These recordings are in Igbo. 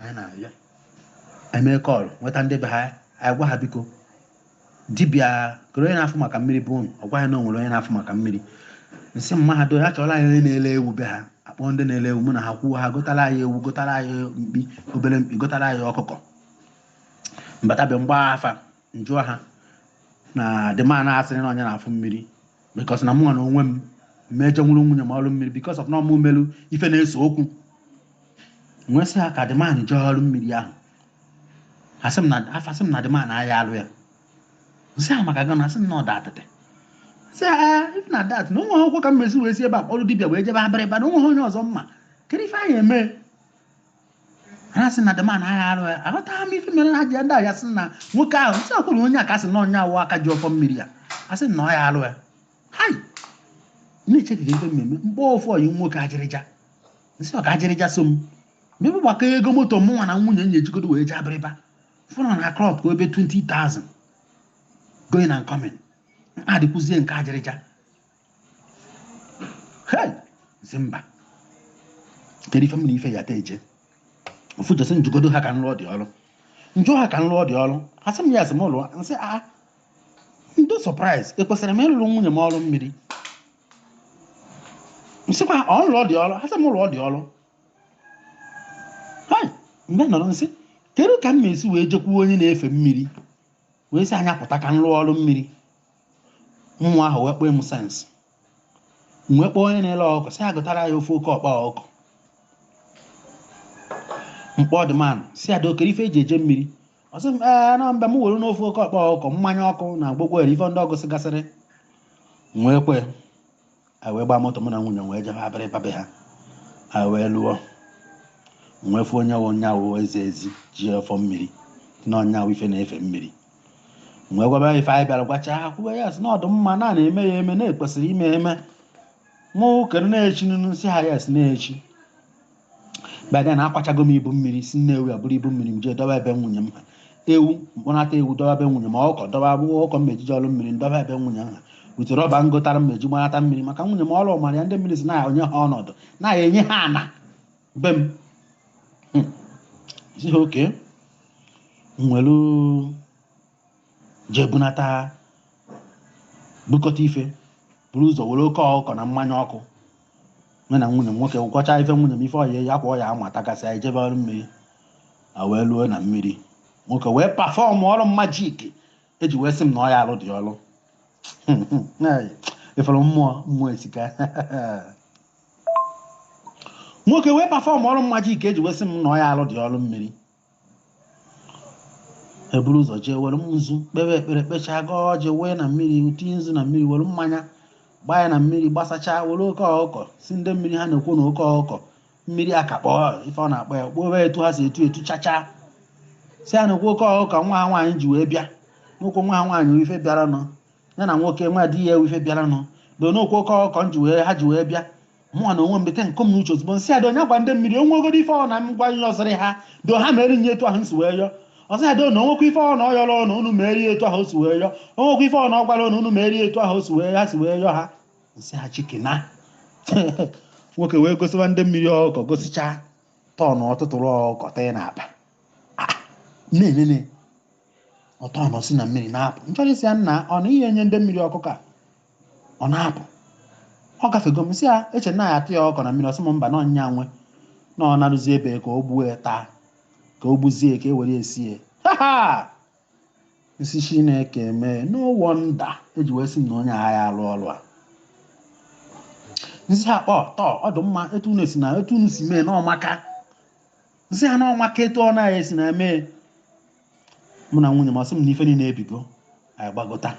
anyị na-arịọ eme kọl nweta ndị be ha anyị gwa ha biko dibịa kere onye na-afụ maka mmiri be unu ọ gwa ya na o nwere onye na-afụ maka mmiri nsị m ha ọdụ mma chọrọ anyị onye na-ele ewu be ha akpọ ndị na-ele ewu mụ na ha kwuo ha gotara anyị ewu gotara anyị mkpi obere mkpi gotara anyị ọkụkọ mbata be m gba afa njụọ ha na the man a sịrị na onye na-afụ mmiri because na mụnwa na onwe m me jee rụrụ nwunye m ọrụ mmiri because of na ọ mụ melu ife na-ese okwu nwee sị ha ka the man jee ọrụ mmiri ahụ asị m na afa sị m na the man aya alụ ya nsị ha maka gịnị asị m na ọda atịtị sị ha "Ah, if na dat na o nwehe okwu ka m esi wee si ebe a kpọrọ dibịa wee jebe abịrịba na o nweha onye ọzọ m ma kedu ife anyị eme ha sị na the man aya arụ ya aghọtaghị m ife mere ha ji ndị ahịa sị na nwoke ahụ nsị akwụrụ onye a ka sị na onye awụ aka ji ọfọ mmiri ya a sị na ọ ya arụ ya hai na-echekiga ife m ma-eme mgbe ofu ọyi nwoke ajịrịja nsị ọka ajịrịja so m mebe gbakọ ego moto mụnwa na nwunye m ya-ejigodo wee jee abịrịba fụrụ na klọb ka over 20,000 going and coming adịkwuzie nke ajịrịja hei nsị mba kedu ife m na ife ya ta eje ofu jesi njụgodo ha ka nlụọ the ọrụ njụ ha ka nlụọ the ọrụ ha sị m ya ha sị m lụọ nsị a ah, ndo surprise ekwesịrị m ịlụrụ nwunye m ọrụ mmiri nsịkwa m lụọ the ọrụ ha sị m lụọ the ọrụ mgbe nọrọ nsị kedu ka m ma-esi wee jekwuo onye na-efe mmiri wee sị anya pụta ka m rụọ ọrụ mmiri mmụọ ahụ wee kpọọ m sense wee kpọọ onye na-ele ọkụ sị ya gotara ya ofu oke ọkpa ọkụ mkpọ the man sị ya doo kere ife eji eje mmiri ọ sị m ee na mba m werenụ ofu oke ọkpa ọkụ mmanya ọkụ na gbogbo ere ife ndị ọ gụsịgasịrị nwee kwe anyị wee gbaa moto mụ na nwunye m wee jebe abịrịba be ha anyị wee luo nwee fụ onye wụ nya wụ ezi ezi ji ọfọ mmiri na ọ nya wụ ife na-efe mmiri nwee gwaba ya ife anyị bịara gwacha ha kwuwe ya sị na ọdụ mma na na-eme ya eme na ekwesịrị ime eme mụ kere na-echi nunu sị ha ya sị na echi by then akwachago m ibu mmiri si nnewi buru ibu mmiri m jee dọba be nwunye m ha ewu mkpọnata ewu dọba be nwunye m ọkụkọ dọba agbọghọ ọkụkọ m eji eje ọrụ mmiri dọba be nwunye m ha wute rọba ngotara m eji gbanata mmiri maka nwunye m ọrụ ọmara ya ndị mmiri sị na enye ha ọnọdụ na-enye ha ana be m hmm. sị ha okay nwere jee bunata ha bukọta ife buru ụzọ were oke ọkụkọ na mmanya ọkụ nwe na nwunye m nwoke gwọcha ife nwunye m ife ọya ya kwa ọya ama tagasị anyị jebe ọrụ mmiri a wee ruo na mmiri nwoke wee perform ọrụ magic e ji wee sị m na ọ ya alụ ụdị ọrụ efere mmụọ mmụọ esika nwoke wee perform ọrụ magic e ji wee sị m na ọ ya alụ ụdị ọrụ mmiri eburu ụzọ jee were nzu kpere ekpere kpechaa gọọ ọjị wee na mmiri tinye nzu na mmiri were mmanya gbaa ya na mmiri gbasachaa were oke ọkụkọ sị ndị mmiri ha na-ekwu na oke ọkụkọ mmiri aka kpọọ ife ọ na-akpọ ya kpọọ etu ha si etu etu chachaa sị ya na okwu oke ọkụkọ nwa ha nwaanyị ji wee bịa n'okwu nwa ha nwaanyị ife bịaranụ ya na nwoke nwa di ya ewu ife bịaranụ na n'okwu oke ọkụkọ m ji wee ha ji wee bịa mụnwa na onwe m dịka nkom na uche ozugbo m sị ada onye gwa ndị mmiri onwegoro ife ọ na m gwa nye ọzịrị ha do ha mere nye etu ahụ nsi wee yọ ọzọ ada na onwekwa ife ọ na ọ yọrọ na unu merie etu ahụ o si wee yọ onwekwa ife ọ na ọ gwara na unu merie etu ahụ o si wee ha si wee yọ ha m sị ha shikena nwoke wee gosiwa ndị mmiri ọkụkọ gosichaa turn ọ tụtụrụ ọkụkọ tee na akpa na-enene ọ turn si na mmiri na-apụ m chọrọ ịsị ya nna ọ na ihe nye ndị mmiri ọkụkọ a ọ na-apụ ọ gafego m sị ya eche na ya atụnye ọkụkọ na mmiri ọ sị m mba na ọ ya nwe na ọ naruzie be ka o gbuo ya taa ka o gbuzie ka e were esi ya ha ha m sị chineke mee no wonder e ji wee sị m na onye a ya alụ ọrụ a m sị ya kpọ tọọ ọ dị mma etu unu si na etu unu si mee na ọ maka m sị ya na ọ maka etu ọ na-esi na mee mụ na nwunye m ọ sị m na ife niile ebigo anyị gbagota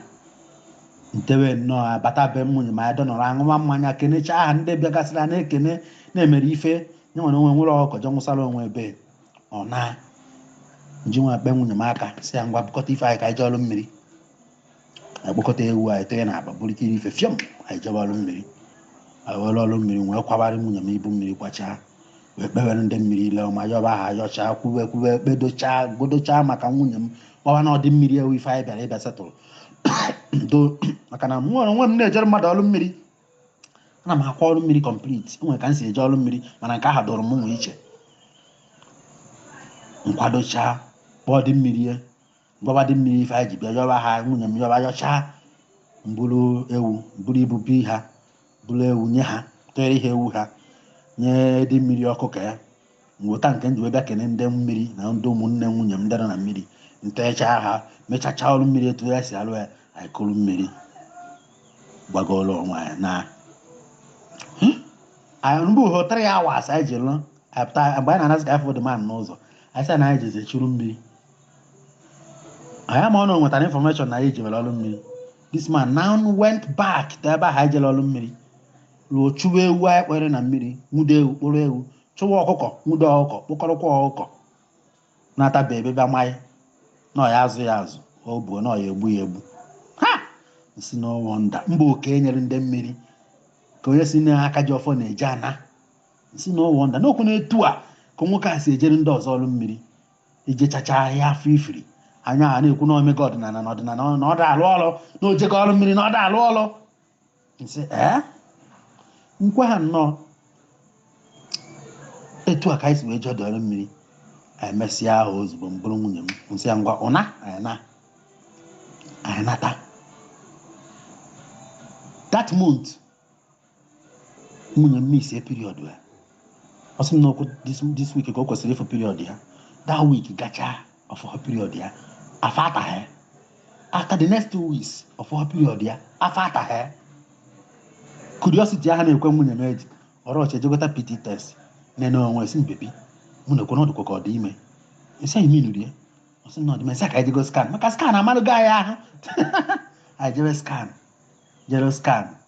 ntewe nnọọ abata be nwunye m anyị dọnọrọ aṅụwa mmanya kenechaa ha ndị bịagasịrị a na-ekene na-emere ife nye nwere onwe nwere ọkọjọ nwụsara onwe ebe ọ na ji wee kpa nwunye m aka sị ya ngwa bukọta ife anyị ka anyị jee ọrụ mmiri anyị kpọkọta ewu anyị tee na akpa buru ike ife fiọm anyị jebe ọrụ mmiri anyị were ọrụ mmiri wee kwabara nwunye m ibu mmiri kwachaa wee kpewere ndị mmiri ile ọma yọba ha yọchaa kwube kwube kpedochaa gọdochaa maka nwunye m kpọwa ndị mmiri ewu ife anyị bịara ịbịa setụrụ do maka na mụ onwe m na-ejere mmadụ ọrụ mmiri ana m akwa ọrụ mmiri complete e nwere ka m si eje ọrụ mmiri mana nke a dịrị m nwe iche m kwadochaa kpọọ ndị mmiri gwaba ndị mmiri ife anyị ji bịa yọba ha nwunye m yọba yọchaa m buru ewu m buru ibu bi ha buru ewu nye ha tere ihe ewu ha nye ndị mmiri ọkụkọ ya ngwota nke m ji wee bịa kene ndị mmiri na ndị ụmụnne nwunye m ndị nọ na mmiri ntechaa ha mechachaa ọrụ mmiri etu e si alụ ya anyị kuru mmiri gbagoro onwe anyị na anyị mgbe uhe three hours anyị ji lụ anyị pụta mgbe anyị na-anasị ka anyị fụ the man n'ụzọ anyị sị na anyị jezie churu mmiri anyị ama na o nwetara information na anyị jebere ọrụ mmiri this man now went back to ebe ahụ anyị jere ọrụ mmiri ruo chụwa ewu anyị kpọrọ na mmiri nwude ewu kpụrụ ewu chụwa ọkụkọ nwude ọkụkọ kpụkọrọkwa ọkụkọ na-ataba ebe bịa manyị na ọ ya-azụ ya azụ ọ bụ na ọ ya-egbu ya egbu ha sị na ọ wụ nda mba oke nyere ndị mmiri ka onye si n'aka ji ọfọ na-eje ana sị na ọ wụ nda n'okwu na etu a ka nwoke a si ejere ndị ọzọ ọrụ mmiri i jechacha ya fụrụ ife iri anya ha na-ekwu na o mega ọdịnala na ọdịnala na ọ da alụ ọlụ na o jekọ ọrụ mmiri na ọ da alụ ọlụ nsị ee nkwe ha nnọọ etu a ka anyị si wee jee ọdọ ọrụ mmiri emesịa ahụ ozugbo m buru nwunye m nsị ya ngwa ụna anyị naa anyị nata that month nwunye m misie period ya ọ sị m na ọ wụ this week ka o kwesịrị ịfụ period ya that week gachaa ọ fụ period ya afọ ataghị after the next two weeks ọ fụ period ya afọ ataghị curiosity ahụ na-ekwe nwunye m o ji rush jee gota pt test nene onwe sị m baby mụ na ekwe na ọ dịkwa ka ọ dị ime esi anyị minu rie ọ sị na ọ dị ime nsị ka anyị jego scan maka scan amalụgo anyị ahụ anyị jebe scan jere scan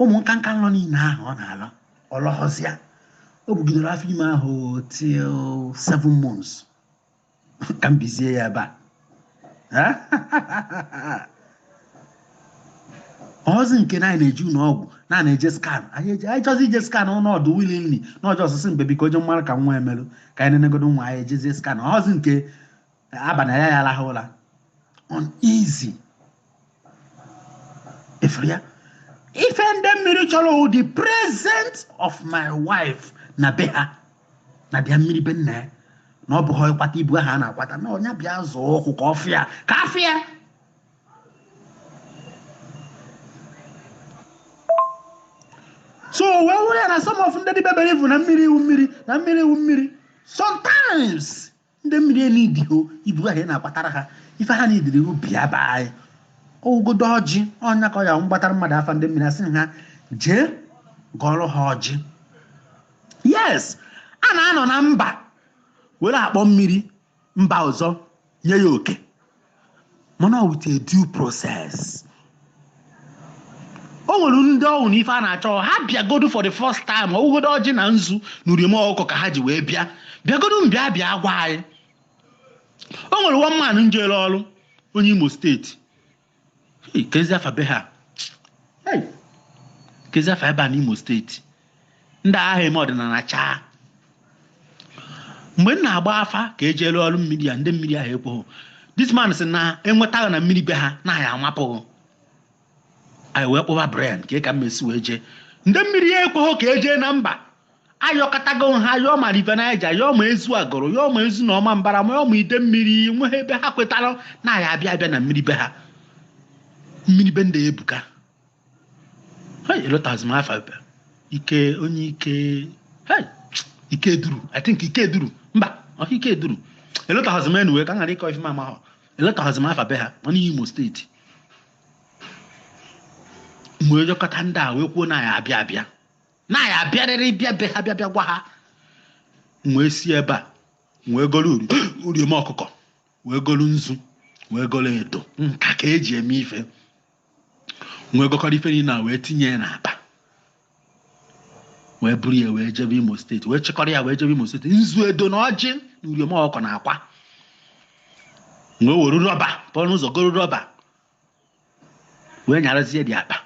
ụmụ nka nka nlọ niile ahụ ọ na-alọ ọ lọghọzị ya o bugidere afọ ime ahụ till seven months ka m bizie ya ebe a ọ họzị nke na anyị na-eje ụlọ ọgwụ na na-eje scan anyị eje anyị chọzi ije scan nọdụ wilili n'ụjọ ọ sị baby biko onye mara ka nwa a melụ ka anyị nenegodu nwa anyị ejezie scan ọ họzị nke abalị ya ya alahụ ụra uneasy ị fụrụ ya ife ndị mmiri chọrọ wụ the presence of my wife na be ha na bịa mmiri be nna ya na ọ bụghị ịkwata ibu ahụ a na-akwata na ọ ya bịa zọọ ụkwụ ka ọ fịa ka ọ fịa so wee were ya na some of ndị dibebere ivu na mmiri iwu mmiri na mmiri iwu mmiri sometimes ndị mmiri eneedịhọ ibu ahụ ị na-akpatara ha ife ha needịrị wụ bịa be anyị ọ wụgodu ọjị ọnya ka ọ ya m gbatara mmadụ afa ndị mmiri asị ha jee gọọrọ ha ọjị yes a na-anọ na mba were akpọ mmiri mba ọzọ nye ya oke mana with a due process o nwere ndị ọ wụ na ife a na-achọ ha bịagodu for the first time ọ wụgodu ọjị na nzu na uriom ọkụkọ ka ha ji wee bịa bịagodu mbịa bịa gwa anyị o nwere one man njere ọrụ onye imo state kezi afa be ha kezi afa ebe a n'imo state ndị agha eme ọdịnana chaa mgbe m na-agba afa ka e jee rụọ ọrụ mmiri ya ndị mmiri ahụ ekweghị this man sị na enwetaghị na mmiri be ha na ya amapụghị anyị wee kpọba brain ka ka m mesi wee jee ndị mmiri ya ekweghị ka e jee na mba ayọkọtago ha yọọ ma River Niger yọọ ma Ezu Agụlụ yọọ ma Ezu na Ọmambala ma yọọ ma Idemmili nweghị ebe ha kwetara na ya abịa abịa na mmiri be ha mmiri be ndị ebuka Hey, elotazịrọ m afa. Ike onye ike hey, Ikeduru I think Ikeduru mba ọka Ikeduru elotazịrọ m wee ka m ghara ịkọ ife m amarọ elotazịrọ m afa be ha ọ n'Imo State m wee yọkọta ndị a wee kwuo na ya abịa abịa na ya abịarịrị bịa be ha bịa bịa gwa ha wee si ebe a wee golu uriom ọkụkọ wee golu nzu wee golu edo nke a ka e ji eme ife wee gọkọrọ ife niile a wee tinye ya n'akpa wee buru ya wee jebe Imo State wee chịkọrọ ya wee jebe Imo State nzu edo na ọjị na uriom ọkụkọ na akwa wee were rọba pụọ n'ụzọ goro rọba wee nyarazie dị akpa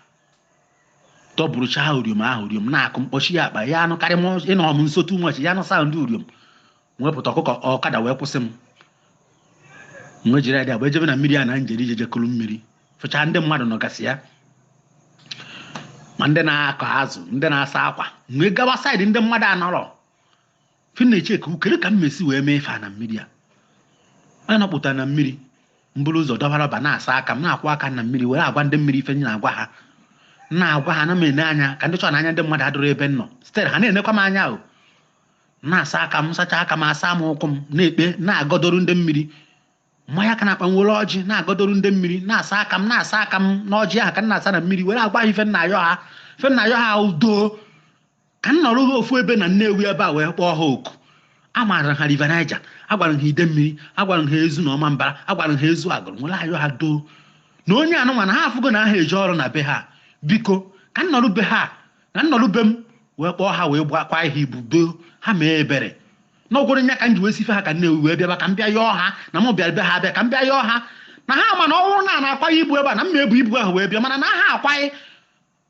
tọburucha ha uriom ahụ uriom na-akụ m kpọchie ya akpa ya anụ karị ị nọ m nso too much ya anụ sound uriom wee pụta ọkụkọ ọkada wee kwụsị m wee jiri ya dị agba ejebe na mmiri a na m jere ije jekwuru mmiri fụcha ndị mmadụ nọgasị ya ma ndị na-akọ azụ ndị na-asa akwa m wee gawa side ndị mmadụ anọrọ fi na-eche ka ukere ka m mesi wee mee ife na mmiri a m apụta na mmiri m buru ụzọ dọbara ba na-asa aka m na-akwọ aka na mmiri were agwa ndị mmiri ife m na-agwa ha na-agwa ha na m ene anya ka m dị sure na anya ndị mmadụ adịrọ ebe m nọ still ha na-enekwa m anya ahụ na-asa aka m sacha aka m asa m ụkwụ m na-ekpe na-agọdoro ndị mmiri M manye aka n'akpa m were ọjị na-agọdoru ndị mmiri na-asa aka m na-asa aka m n'ọjị ahụ ka m na-asa na mmiri were agwa ha ife m na-ayọ ha ife m na-ayọ ha doo ka m nọrọ ha ofu ebe na Nnewi ebe a wee kpọọ ha oku amaara ha River Niger agwara m ha Idemmili agwara m ha Ezu na Ọmambala agwara m ha Ezu Agụlụ were ayọ ha doo na onye anụnwa na ha afụgo na ha ji ọrụ na be ha biko ka m nọrọ be ha na m nọrọ be m wee kpọọ ha wee gbakwa ihe ibu doo ha mee ebere na ọ bụ nya ka m ji wee sife ha ka nne wee bịaba ka m bịa yọọ ha na m bịara be ha abịa ka m bịa yọọ ha na ha ma na ọ bụrụ na a na-akwaghị ibu ebe a na m ebu ibu ahụ wee bịa mana na ha akwaghị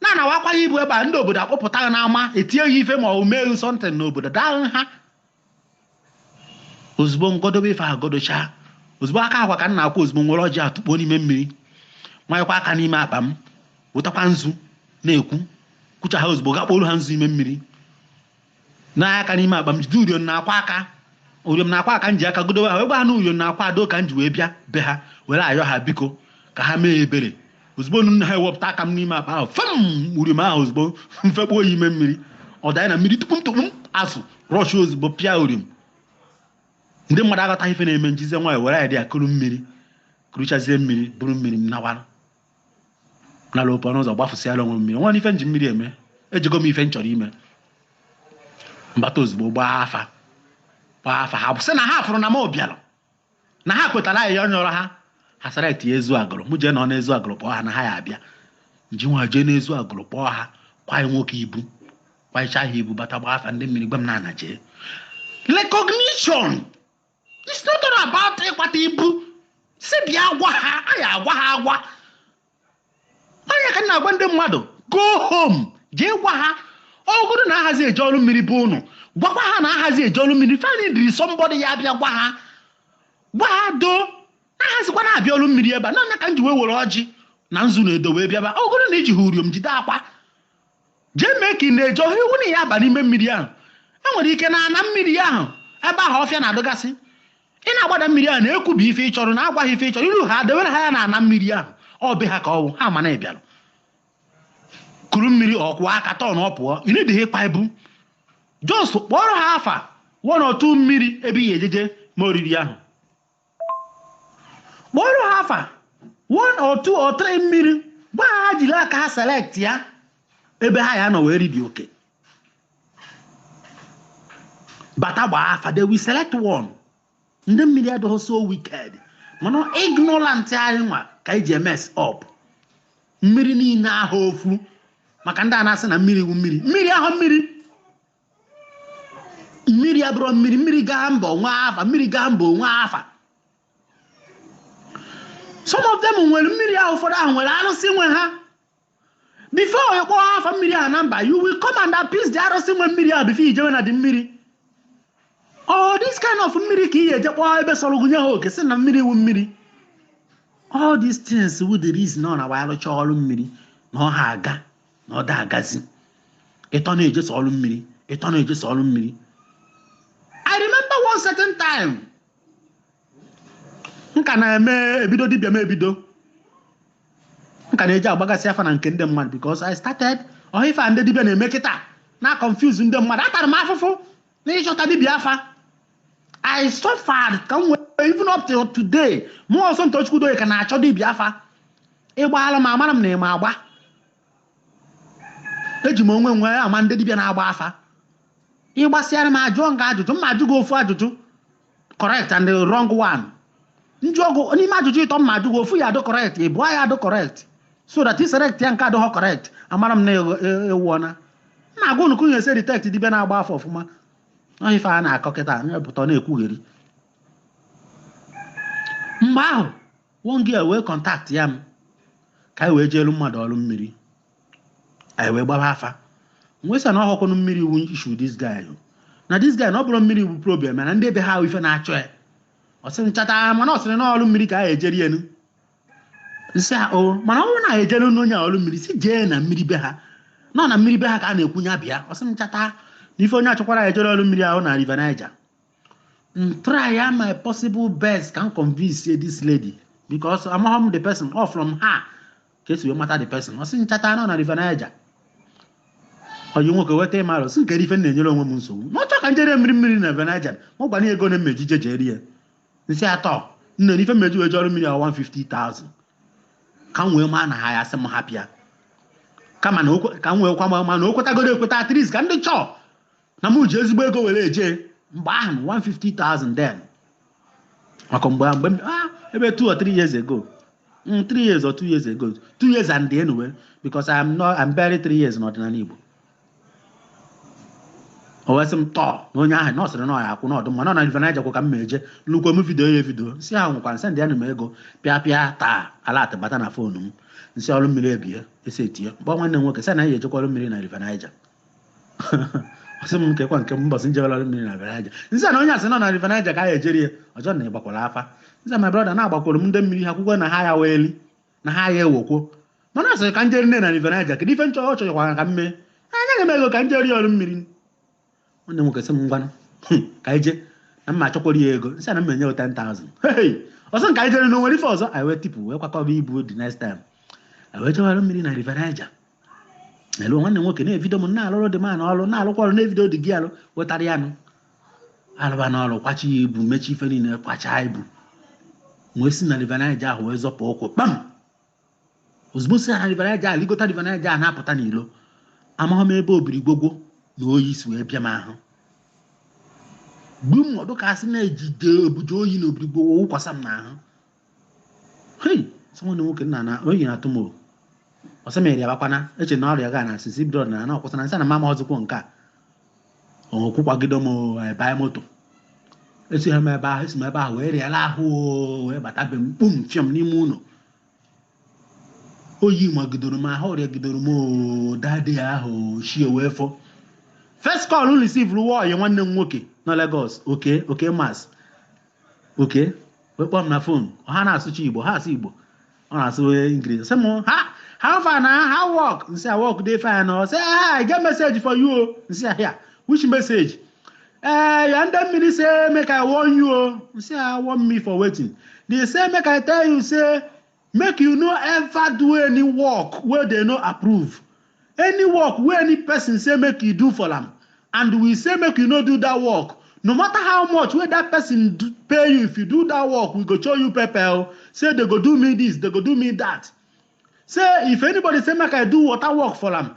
na anawa akwaghị ibu ebe a ndị obodo akpọpụta gị n'ama etinye ya ife ma ọ mee something n'obodo daa ha ozugbo m gọdobe ife ahụ gọdochaa ozugbo aka akwa ka m na-akwọ ozugbo m were ọjị tụkpọọ n'ime mmiri manyekwa aka n'ime akpa m wetakwa nzu na-ekwu kwucha ha ozugbo ghakpọlụ ha nzu ime mmiri n'aka n'ime akpa m jide uriom na akwa a ka uriom na akwa a ka m ji aka godowe ha wee gwa ha na uriom na akwa ado ka m ji wee bịa be ha were yọọ ha biko ka ha mee ebere ozugbo m wepụta aka m n'ime akpa ahụ fee m uriom ahụ ozugbo m fekpuo ya ime mmiri ọ danye na mmiri tupu m tụkpu m azụ rush ozugbo pịa uriom ndị mmadụ aghọtaghị ife na-eme m jizie nwayọ were ya dị ya kuru mmiri kuruchazie mmiri buru mmiri m nawara nara ope ọnụ ụzọ gbafụsịara onwe mmiri nwa ife m ji mmiri eme ejego m ife m chọrọ ime m bata ozugbo gbaa afa gbaa afa ha sị na ha fụrụ na m bịara na ha kwetara ya m yọrọ ha ha sara etinye ezu agụrụ mụ jee nọ na ezu agụrụ kpọọ ha na ha ya abịa m ji wee jee n'ezu agụrụ kpọọ ha kwaye nwoke ibu kwayecha ha ibu bata gbaa afa ndị mmiri gwa m na a na-eji recognition it's not all about ịkwata ibu sị bịa gwa ha a ya agwa ha agwa ọ ya ka m na-agwa ndị mmadụ go home jee gwa ha ọ bụrụ na ahazi eje ọrụ mmiri be ụnụ gwakwa ha na ahazi eje ọrụ mmiri fani diri somebody ya abịa gwa ha gwa ha doo na ahazikwanụ abịa ọrụ mmiri ebe a na ya ka m ji wee were ọjị na nzu na edo wee bịaba ọ bụrụ na i ji ha uriom jide akwa Jee mee ka ị na-eje ọ họ iwu na ị ya aba n'ime mmiri ahụ. E nwere ike na ana mmiri ahụ ebe ahụ ọfịa na-adịgasị. Ị na-agbada mmiri ahụ na-ekwubi ife ị chọrọ na agwa ha ife ị chọrọ iru ha dewere ha ya na ana mmiri ahụ ọ be ha ka ọ wụ ha ma na ị bịara kuru mmiri ọ kwọọ aka tọọ na ọ pụọ ị needighị ịkpa ibu just kpọrọ ha afa one or two mmiri ebe ị ga-eje jee mee oriri ahụ kpọrọ ha afa one or two or three mmiri gwa ha ha jiri aka ha select ya ebe ha ya nọ wee ribe okay bata gbaa afa they will select one ndị mmiri adịghị so wicked mana ignorant anyị nwa ka anyị ji emess up mmiri niile ahụ ofu maka ndị a na-asị na mmiri wu mmiri mmiri ahụ mmiri mmiri abụrọ mmiri mmiri gaa mba o nwee afa mmiri gaa mba o nwee afa some of them nwere mmiri ahụ ụfọdụ ahụ nwere arụsị nwe ha before ị kpọọ afa mmiri ahụ na mba you will come and appease the arụsị nwe mmiri ahụ before i jewe na ụdị mmiri oh this kind of mmiri ka ị ga-eje kpọọ ebe sọrọ gị nye ha oke sị na mmiri wu mmiri all these things wu the reason ọ na-abụ a rụcha ọrụ mmiri na ọ ha aga na ọ da agazi ị tọ na-ejesi ọrụ mmiri ị tọ na-ejesi ọrụ mmiri i remember one certain time m ka na-eme ebido dibịa m ebido m ka na-eji agbagasị afa na nke ndị mmadụ because i started ọ họ ife a ndị dibịa na-eme kịta na confuse ndị mmadụ atara m afụfụ na ịchọta dibịa afa I suffered ka m wee even up till today mụ Ọzọ Tochukwu Udoye ka na-achọ dibịa afa ị gbaara m amara m na ị ma agba eji m onwe m wee ama ndị dibịa na-agba afa ị gbasịara m ajụọ m gị ajụjụ m ma ajụ gị ofu ajụjụ correct and the wrong one ndị ọgụ n'ime ajụjụ ịtọ m ma ajụ gị ofu ya adụ correct ịbụọ ya adụ correct so that i selectia nke adụghọ correct amara m na ewuọna na-agwa unu ka unu esi detect dibịa na-agba afa ọfụma ọ ife a na-akọ kịta na-epụta na-ekwugheri mgbe ahụ nwanyị a wee contactịa m ka anyị wee jeelu mmadụ ọrụ mmiri anyị wee gbaba afa wee sị na ọ wụhụkwanụ mmiri wụ issue this guy na this guy na ọ bụrọ mmiri wụ problem na ndị be ha ife na-achụ ya ọ sị m chata mana ọ sịrị na ọrụ mmiri ka a ejeri ya nụ m sị ya o mana ọ wụ na ejere n'onye a ọrụ mmiri sị jee na mmiri be ha na ọ na mmiri be ha ka a na-ekwu ya bịa ọ sị m chata na ife onye achọkwara ya ejere ọrụ mmiri ahụ na River Niger m try ya my possible best ka m convince this lady because amaghị m the person or from her ka esi wee mata the person ọ sị m chata na ọ na River Niger ọyị nwoke weta ị mara asị m kere ife m na-enyere onwe m nsogbu ma ọ chọọ ka m jere mmiri mmiri na River Niger ma ọ gwa m ego m ma-eji ejeri ya m sị ya tọọ nne n'ife m ma-eji wee jee ọrụ mmiri a 150,000 ka m wee maa na ha ya-asị m hapụ ya kama na o kwe- ka m wee kwa ma na o kwetagodo ekweta at least ka m dị sure na mụ ji ezigbo ego were eje mgbe ahụ 150,000 then maka mgbe mgbe m- ah, ebe 2 or 3 years ago Mm, 3 years or 2 years ago 2 years and the anyway because I'm not I'm barely 3 years n'ọdịnala Igbo o wee sị m tọọ na onye ahụ na ọ sịrị na ọ ya-akwụ na ọ dụ mma na ọ na River Niger kwa ka m ma-eje nnukwu m vidio ya evidio m sị ahụ nwekwa sendịara m ego pịa pịa taa alert abata na foonu m m sị ọrụ mmiri ebie esi etinye m kpọọ nwanne m nwoke sị na ya ejekwa ọrụ mmiri na River Niger ọ sị m kee kwa nke m mbọsị m jewere ọrụ mmiri na River Niger m sị na onye a sị na ọ na River Niger ka a ya ejeri ya ọ jụọ m ị gbakwara afa m sị my brother na agbakwara m ndị mmiri ha kwukwe na ha ya wee eli na ha agha ewokwo mana ọ sịrị ka m jeri nne na River Niger kedu ife m chọ ọ chọchọkwara ka m me enyego m ego ka m jeri ọrụ mmiri nwanne m nwoke sị m ngwanụ ka anyị jee na m ma-achọkwara ya ego m sị na m enye 10,000 hey ọ sị m ka anyị jee na o nwerọ ife ọzọ anyị wee tipụ wee kwakọba ibu the next time anyị wee chọwara mmiri na River Niger elu nwanne m nwoke na-evido m na-alụrụ dị m na ọrụ na-alụkwa ọrụ na-evido dị gị alụ wetara ya nụ arụba n'ọrụ kwachaa ibu mechaa ife niile kwachaa ibu wee si na River Niger ahụ wee zọpụ ụkwụ kpam ozugbo si na River Niger ahụ ligota River Niger ahụ na-apụta n'ilo amaghị m ebe obiri gwogwo na oyi si wee bịa m ahụ mgbe m ọ dụ ka a sị na e jide ebuje oyi na obiri gwogwo wụkwasa m n'ahụ hei sị nwanne nwoke nna na oyi na-atụ m o ọ sị m arịabakwana eche na ọrịa ga na asịsị bido ọdịnala na ọkwụsịna nsị na m amazịkwa nke a ọkwụ kwagide m ebanye moto esi ha m ebe ahụ esi m ebe ahụ wee rịala ahụ o, wee bata be m kpum fịọm n'ime ụlọ oyi wee jidoro m ahụ ọrịa jidoro m o that day ahụ chi wee fọ first call m receiverụ wụ ọyị nwanne m nwoke na Lagos oke oke mas oke wee kpọọ m na fon ọ ha na-asụcha igbo ọ ha asụ igbo ọ na-asụ ingilish sị m how far na how work nsị a work dey fine ọ sị i get message for you o nsị ya which message ee ya ndị mmiri say make i warn you o nsị a warn me for wetin they say make i tell you say Make you no ever do any work wey dey no approve. Any work wey any person say make you do for am and we say make you no do that work, no matter how much wey that person pay you if you do that work we go show you pepper o, say dey go do me this, dey go do me that. Say if anybody say make I do water work for am,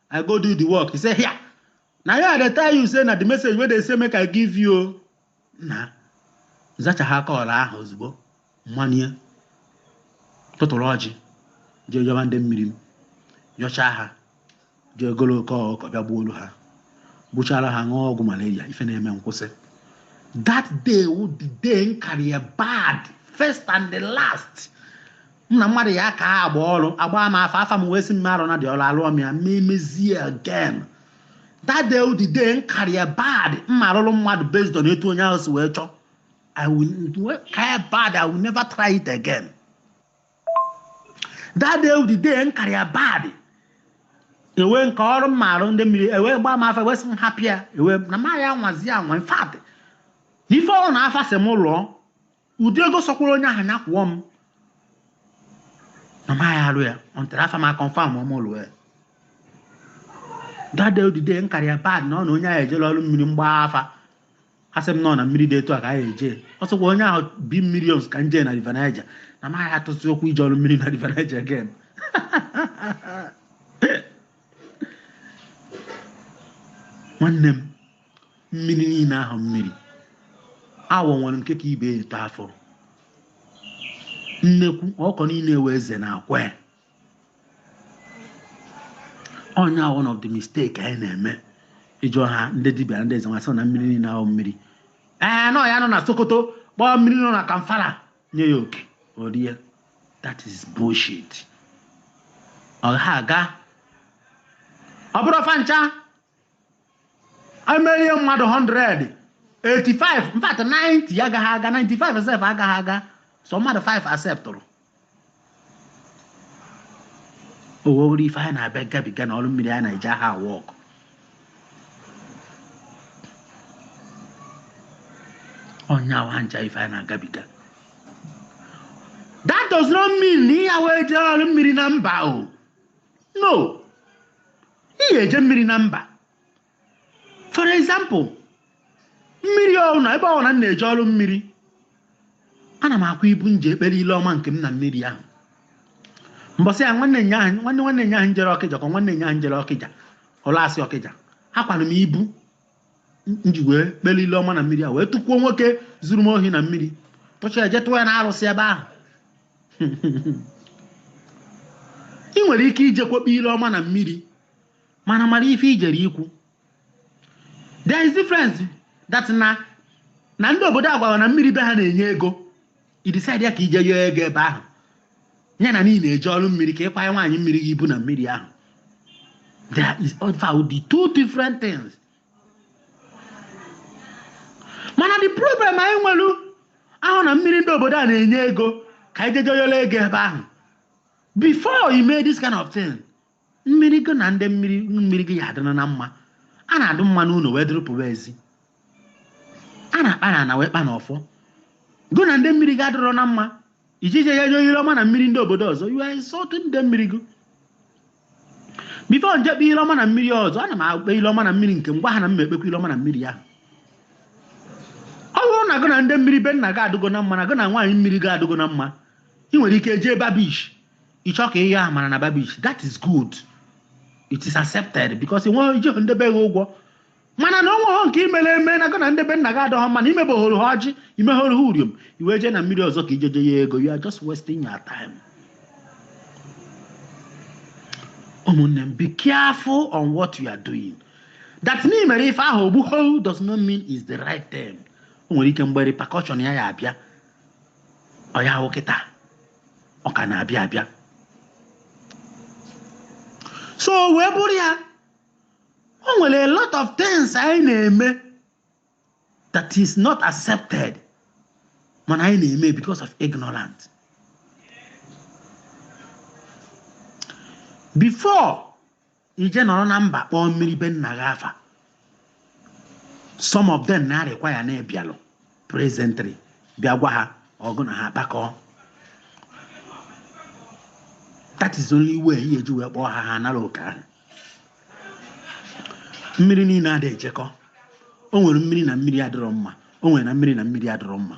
i go do the work he say here na ya dey tell you say na the message wey dey say make i give you o na nzachaa call ahụ ozugbo m banye tụtụrụ ọjị jee yọba ndị mmiri m yọchaa ha jee golu oke ọkụkọ bịa gbuolu ha gbuchara ha ṅụọ ọgwụ malaria ife na-eme m kwụsị that day wụ the day nkara ya bad first and the last m na mmadụ ya ka agba ọrụ agbaa m afa afa m wee sị m arụna ụdị ọrụ alụọ m ya ma emezi ya again that day the day m kara ya bad m ma arụrụ mmadụ based on etu onye ahụ si wee chọọ I will kara ya bad I will never try it again that day the day m kara ya bad enwe nke ọrụ m ma arụ ndị mmiri e wee gbaa m afa wee sị m hapụ ya enwe na m ya anwazi anwa in fact ife ọbụna afa sị m lụọ ụdị ego sọkwara onye ahụ ya kwụọ m na m aya arụ ya until afa m aconfirmụọ mụ lụọ ya that day wụ the day m kara ya bad na ọ na onye ahụ ejela ọrụ mmiri mgbaa afa asị m na ọ mmiri dị etu a ka anyị eje ọ sọkwa onye ahụ bi millions ka nje na river niger na m aya atụzi ụkwụ ije ọrụ mmiri na river niger again nwanne m mmiri niile ahụ mmiri awọ nwere nke ka ibe ya eto afọ nnekwu ọkụkọ niile ewe eze na akwa ya onye ahụ one of the mistake anyị na-eme ị jụọ ha ndị dibịa ndị eze nwanyị sị na mmiri niile ahụ mmiri ee na ya nọ na sokoto kpọọ mmiri nọ na zamfara nye ya oke o rie that is bullshit ọ ha aga ọ bụrụ fa ncha e meere mmadụ 100 85 in fact 90 ya agaghị aga 95 sef agaghị aga so mmadụ 5 acceptụrụ o nwere ife anyị na-abịa gabiga na ọrụ mmiri anyị na-eji aha awa ọkụ onye awa ncha ife anyị na-agabiga that does not mean na ihe awa eje ọrụ mmiri na mba o no ị ya-eje mmiri na mba for example mmiri ọbụla ebe ọbụla m na-eje ọrụ mmiri ana m akwa ibu m ji ekpere ile ọma nke m na mmiri ahụ mbọsị ya nwanne nyaahụ nwanne nwanne nyaahụ m jere ọkịja ka nwanne nyaahụ m jere ọkịja ụlasị ọkịja akwara m ibu m ji wee kpere ile ọma na mmiri a wee tụkwuo nwoke zuru m ohi na mmiri tụchaa jee tụọ ya na arụsị ebe ahụ ị nwere ike ijekwa kpee ile ọma na mmiri mana mara ife i jere ikwu there is difference that na na ndị obodo a gwara na mmiri be ha na-enye ego i decide ya ka ị jee yọọ ego ebe ahụ ya na ị na-eje ọrụ mmiri ka ị kwanye nwaanyị mmiri gị ibu na mmiri ahụ there is also the two different things mana the problem anyị nwere bụ na mmiri ndị obodo a na-enye ego ka anyị jeje yọrọ ego ebe ahụ before you made this kind of thing Mmiri gị na ndị mmiri mmiri gị ya adịrị na mma. A na-adị mma n'ụlọ wee dịrị pụwa ezi. A na-akpa na ana wee kpa n'ọfọ. Gị na ndị mmiri gị adịrọ na mma. Ị jeje ya nye ire ọma na mmiri ndị obodo ọzọ. You are insulting ndị mmiri gị. Before m jee kpee ire ọma na mmiri ọzọ, ana m akpe ire ọma na mmiri nke m gwa ha na m ma ekpekwa ire ọma na mmiri ahụ. Ọ bụrụ na gị na ndị mmiri be nna gị adịgo na mma na gị na nwaanyị mmiri gị adịgo na mma, ị nwere ike jee Bar Beach ị chọọ ka ihe amara na bar beach that is good it is accepted because nwe i ji ndị be gị ụgwọ mana na o nweghị nke i mere eme na gị na ndị be nna gị adịhọ mma na i mebehoro ha ọjị i mehoro ha uriom i wee jee na mmiri ọzọ ka ị jeje yọọ ego you are just wasting your time ụmụnne m be careful on what you are doing that na i mere ife ahụ o gbuho does not mean is the right thing o nwere ike mgbe repercussion ya ya-abịa ọ bụhọ kịta ọ ka na-abịa abịa so wee bụrụ ya o nwere a lot of things anyị na-eme that is not accepted mana anyị na-eme because of ignorant before i jee nọrọ na mba kpọọ mmiri be nna gị afa some of them na-require na ị bịalụ presently bịa gwa ha gị na ha kpakọọ that is only way ị ya-eji wee kpọọ ha ha nara oke ahụ mmiri niile adị ejekọ o nwere mmiri na mmiri adịrọ mma o nwere na mmiri na mmiri adịrọ mma